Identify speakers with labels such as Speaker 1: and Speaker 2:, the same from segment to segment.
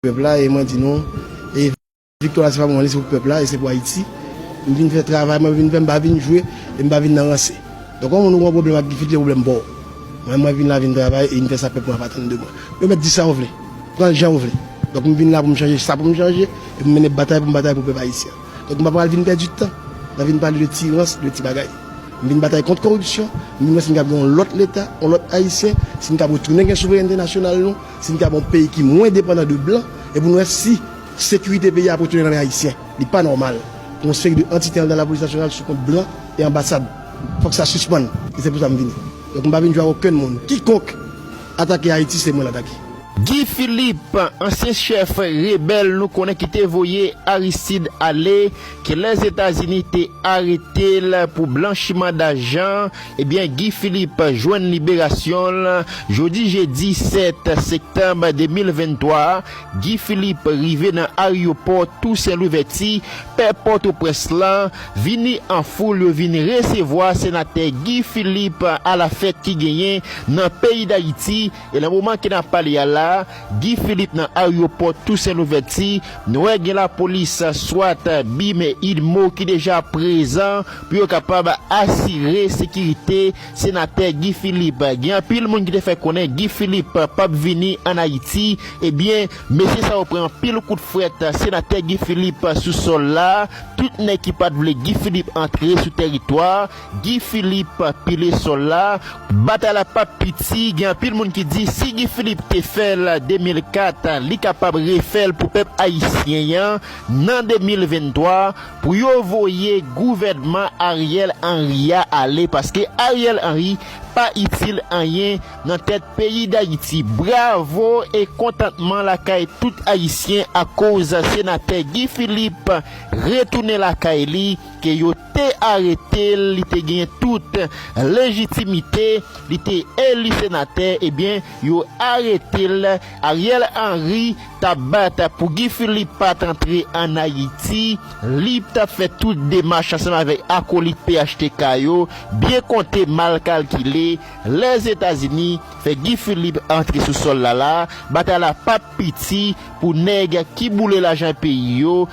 Speaker 1: Pèp la e mwen di nou e viktwa la se pa pou mwen li se pou pèp la e se pou Ayiti m vin fè travay mwen vin fè m pa vin jwe e m pa vin nan ranse donk yon moun ou gen yon pwoblèm ak difilte pwoblèm pa w mwen mwen vin la vin travay e vin fè sa pèp mwen ap atann de mwen yo mèt di sa yo vle pran l jan yo vle donk m vin la pou m chanje sa pou m chanje e pou m mennen batay pou m batay pou pèp ayisyen an donk m pa pral vin pèdi tan nan vin pale de ti rans de ti bagay m vin batay kont koripsyon m vin wè si n kab gen yon lòt leta yon lòt ayisyen si n kab retounen gen souverènte nasyonal nou. Si nou ta gen yon peyi ki mwen depandan de blan e pou nou wè si sekirite peyi a ap retounen nan men ayisyen. Li pa nòmal pou yon seri de antite anndan lapolis nasyonal sou kont blan e anbasad. Fòk sa sispann. E se pou sa m vini. Donk m pa vin jwe ak okenn moun. Kikonk atake Ayiti se mwen l atake. Guy Philippe,
Speaker 2: ansyen chèf rebèl nou konnen ki te voye Aristide ale, ke Lèzetazini te arete l pou blanchiman dajan, Ebyen Guy Philippe jwenn liberasyon l jodi jedi 7 sektanb 2023 a, Guy Philippe rive nan aryopò Tousen Louvèti, pè Pòtoprens lan, vini an foul yo vin resevwa senatè Guy Philippe a la fèt ki genyen nan peyi Dayiti, E nan moman ke nap pale a la, Guy Philippe nan aryopò Tousen Louvèti, nou wè gen lapolis swat, bim e udmo ki deja prezan pou yo kapab asire sekirite Senatè Guy Philippe. Gen anpil moun ki te fè konnen Guy Philippe pap vini an Ayiti, ebyen mesye sa yo pran anpil kout frèt Senatè Guy Philippe sou sòl la, tout nèg ki pat vle Guy Philippe antre sou tèritwa, Guy Philippe pile sol la. Batay la pap piti, gen anpil moun ki di si Guy Philippe te fèl 2004 li kapab refèl pou pèp ayisyen yan nan 2023 pou yo voye gouvènman Ariel Henry ya ale paske Ariel Henry pa itil anyen nan tèt peyi dayiti bravo e kontantman lakay tout ayisyen akoz senatè Guy Philippe retounen lakay li ke yo te arete l, li te genyen tout lejitimite, li te eli senatè, ebyen yo arete l, Ariel Henry t ap bat pou Guy Philippe pa t antre an Ayiti, li t ap fè tout demach ansanm avèk akolit phtk yo, byen konte mal kalkile, Lèzetazini fè Guy Philippe antre sou sòl la la, batay la p ap piti pou nèg ki boule lajan peyi yo,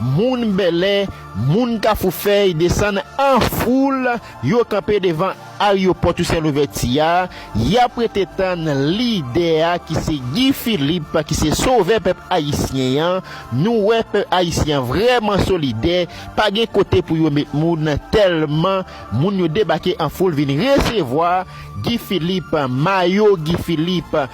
Speaker 2: Moun Bèlè, moun Kafoufèy desann an foul, yo kanpe devan aryopò Tousen Louvèti a, y ap rete tann lidè a ki se Gi Filip ki se sovè pèp ayisyen an. Nou wè pèp ayisyen an vrèman solidè, pa gen kote pou yo met moun tèlman moun yo debake an foul vin resevwa Gi Filip, mayo Gi Filip.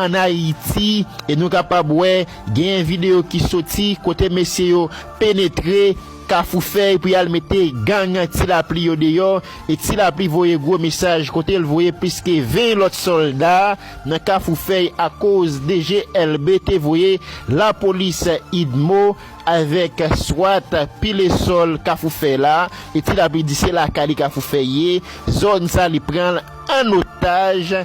Speaker 2: ann Ayiti e nou kapab wè genyen videyo ki soti kote mesye yo penetre Kafou Fèy pou y al mete gang Ti Lapli yo deyò e Ti Lapli voye gwo mesaj kote l voye plis ke 20 lòt sòlda nan Kafou Fèy akoz DGLB te voye lapolis udmo avèk swat pile sòl Kafou Fèy la e Ti Lapli di se lakay li Kafou Fèy ye zòn sa li pran l ann otaj.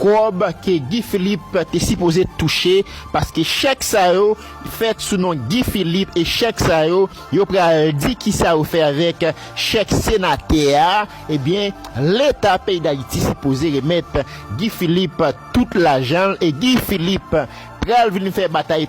Speaker 2: Kòb ke Guy Philippe te sipoze touche paske chèk sa yo fèt sou non Guy Philippe e chèk sa yo yo pral di kisa yo fè avèk chèk senatè a ebyen leta peyi dayiti sipoze remèt Guy Philippe tout lajanl e Guy Philippe pral vin fè batay